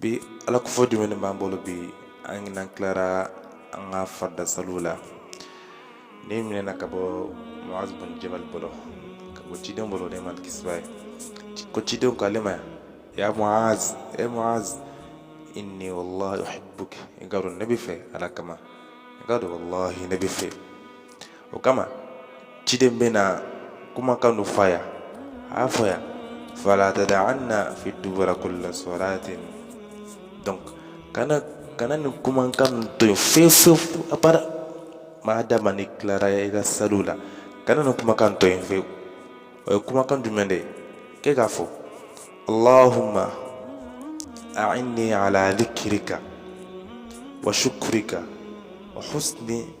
bi ala kofɔ jumɛn b'an bolo bi an n'an tilara an ka farida saliw la nin minɛna ka bɔ muaz bin jabal bolo ka bɔ ciden bolo nɛɛma ni kisi b'a ye ko ciden k'ale ma ya muaz e muaz inni wallahi uhibbuka i k'a dɔn ne b'i fɛ ala kama i k'a dɔn wallahi ne b'i fɛ o kama ciden bɛna kumakan dɔ fɔ a ye a y'a fɔ a ye fala tada'anna fi dubura kulli salatin donc kana nin kumakan to yen fewu fewu abada maa dama n'i tilara i ka saliw la kana nin kumakan to yen fewu o ye kumakan jumɛn de ye k'e k'a fɔ allahumma a'inni ala dhikrika wa shukrika wa husni